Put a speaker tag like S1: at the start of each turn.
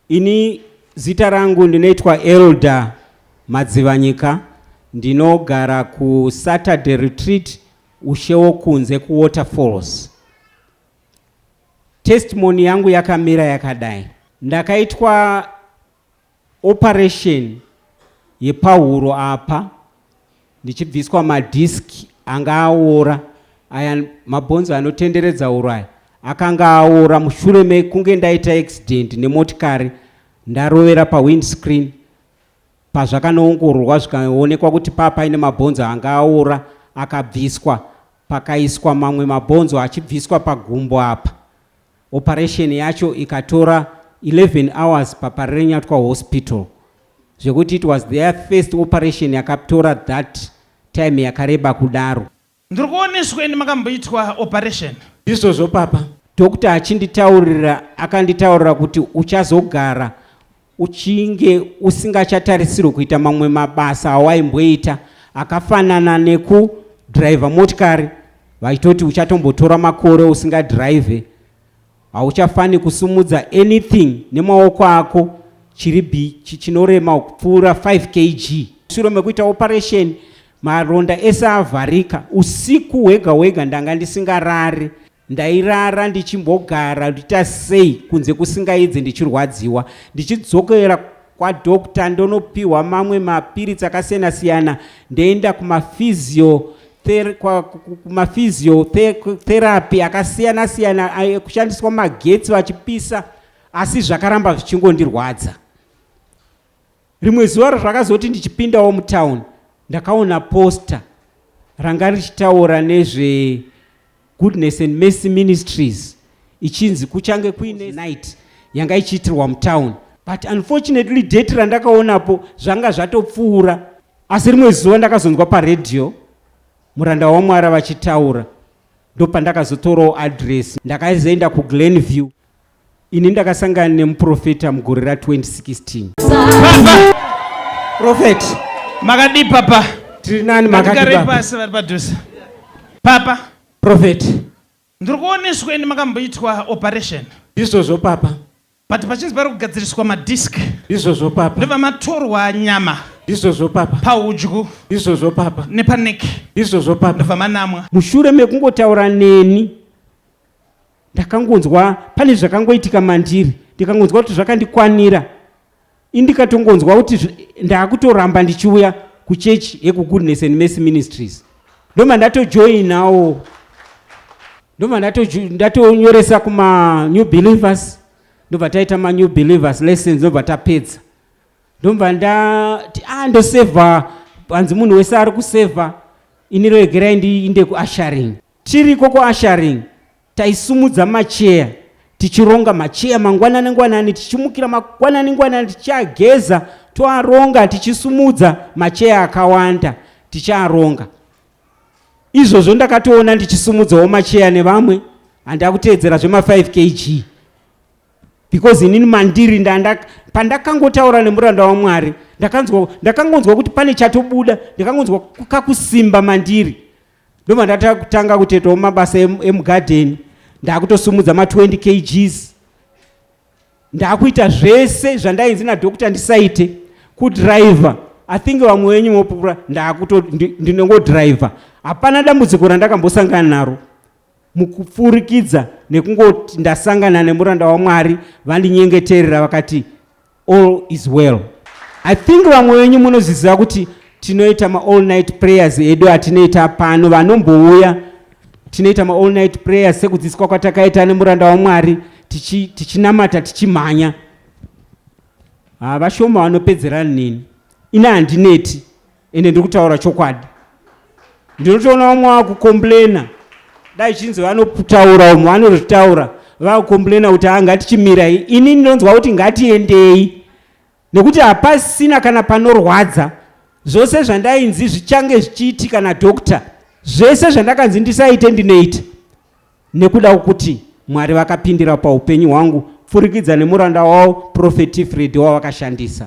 S1: Ini zita rangu ndinoitwa Elder Madzivanyika ndinogara ku Saturday Retreat ushewo kunze ku Waterfalls. Testimony yangu yakamira yakadai. Ndakaitwa operation yepahuro apa ndichibviswa madisc anga aora aya mabhonzo anotenderedza huro aya akanga aora mushure mekunge ndaita accident nemotikari ndarovera pawindscreen pazvakanoongororwa zvikaonekwa kuti paa paine mabhonzo anga aora akabviswa pakaiswa mamwe mabhonzo achibviswa pagumbo apa Operation yacho ikatora 11 hours paParirenyatwa Hospital zvekuti it was their first operation yakatora that time yakareba kudaro. Ndiri kuona isu
S2: kwendi makamboitwa operation. Ndizvozvo papa.
S1: Doctor achinditaurira akanditaurira kuti uchazogara uchinge usingachatarisirwe kuita mamwe mabasa awaimboita akafanana nekudhiraivha motikari vachitoti uchatombotora makore usingadhiraivhe hauchafani kusumudza anything nemaoko ako chiri bi chinorema kupfuura 5 kg shure mekuita operation maronda ese avharika usiku hwega hwega ndanga ndisingarari Ndairara ndichimbogara ndichiita sei kunze kusingaedze ndichirwadziwa ndichidzokera kwadoctor ndonopiwa mamwe mapiritsi akasiyana siyana ndoenda kumafizio kumafizio therapy akasiyana siyana kushandiswa magetsi vachipisa asi zvakaramba zvichingondirwadza Rimwe zuva razvakazoti ndichipindawo mutown ndakaona poster ranga richitaura nezve goodness and mercy ministries ichinzi kuchange kuine night yanga ichiitirwa mutown but unfortunately date randakaonapo zvanga zvatopfuura asi rimwe zuva ndakazonzwa paradio muranda wamwara vachitaura ndopandakazotorawo address ndakazoenda kuglenview Ini ndakasangana nemuprofeta mugore ra 2016.
S2: Prophet.
S1: Makadii
S2: papa? Tiri nani
S1: makadii papa? Pasi vari padhuze.
S2: Papa. Prophet.
S1: Ndiri
S2: kuoneswa ini makamboitwa operation. Ndizvozvo papa.
S1: But pachinzi pari
S2: kugadziriswa madisc. Ndizvozvo papa. Ndobva
S1: matorwa
S2: nyama. Ndizvozvo papa.
S1: Paudyu. Ndizvozvo
S2: papa.
S1: Nepaneck.
S2: Ndizvozvo papa. Ndobva
S1: manamwa. Mushure
S2: mekungotaura
S1: neni ndakangonzwa pane zvakangoitika mandiri ndikangonzwa kuti zvakandikwanira indikatongonzwa kuti ndaakutoramba ndichiuya kuchechi yekugoodness and mercy ministries ndoma ndatojoinawo ndoma ndatonyoresa kumanew believers ndobva taita manew believers lessons ndobva tapedza ndobva ndati a ah, ndosevha hanzi munhu wese ari kusevha ini regerai ndiinde kuasharing Tiriko kuasharing taisumudza macheya tichironga macheya mangwanani ngwanani tichimukira mangwanani ngwanani tichiageza toaronga tichisumudza macheya akawanda tichiaronga izvozvo ndakatoona ndichisumudzawo macheya nevamwe handakuteedzera zvema5 kg because inini mandiri pandakangotaura nemuranda wamwari ndakangonzwa kuti pane chatobuda ndakangonzwa kakusimba mandiri ndobva ndatanga kutoitawo mabasa emugadheni ndakutosumudza ma20 kgs ndakuita zvese zvandainzi nadhokta ndisaite kudriver i think vamwe wenyu mopupura ndakuto ndinongodriver hapana dambudziko randakambosangana naro mukupfurikidza nekungoti ndasangana nemuranda wamwari vandinyengeterera vakati all is well i think vamwe venyu munozviziva kuti tinoita maall night prayers edu atinoita pano vanombouya tinoita maall night prayers sekudzidziswa kwatakaita nemuranda wamwari tichinamata tichi tichimhanya havashoma vanopedzerani neni ina handineti ende ndiri kutaura chokwadi ndinotoona vamwe vakukomplaina dai chinzi vanotaura umwe vanozvitaura vakukomplaina kuti haa ngatichimirai ini ndinonzwa kuti ngatiendei nekuti hapasina kana panorwadza zvose zvandainzi zvichange zvichiitika nadokta zvese zvandakanzi ndisaite ndinoita nekuda kwokuti mwari vakapindira paupenyu hwangu pfurikidza nemuranda wavo profeti fredi wavakashandisa